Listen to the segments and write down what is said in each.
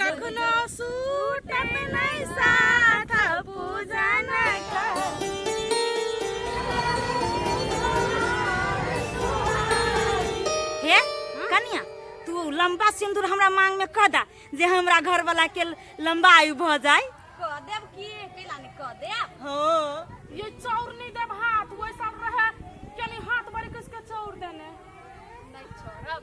कखनो सूटत नहि साथ पूजन हे कनिया तू लंबा सिंदूर हमरा मांग में कह दा जे हमरा घर वाला के लंबा आयु भ जाए कह देब की कैला ने कह देब हो ये चाउर नहीं देब हाथ वही सब रहे यानी हाथ बड़ी किसके चाउर देने नहीं छोड़ब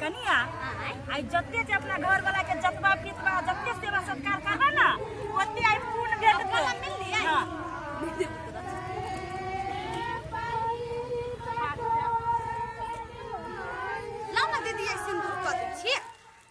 कनिया आई जते जे अपना घर वाला के जतवा पितवा जते सेवा सत्कार करबा ना ओते आई पूर्ण भेट को मिल लिया हां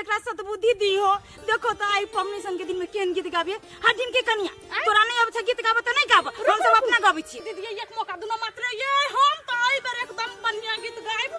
एकरा सतबुद्धि दी हो देखो तो आई पमनी सन के दिन में केन गीत गाबिए हटिन के कनिया तोरा नहीं अब गीत गाबे तो नहीं गाब हम सब अपना गाबै छी दीदी एक मौका दुनो मात्र ये हम तो आई बेर एकदम बढ़िया गीत गायब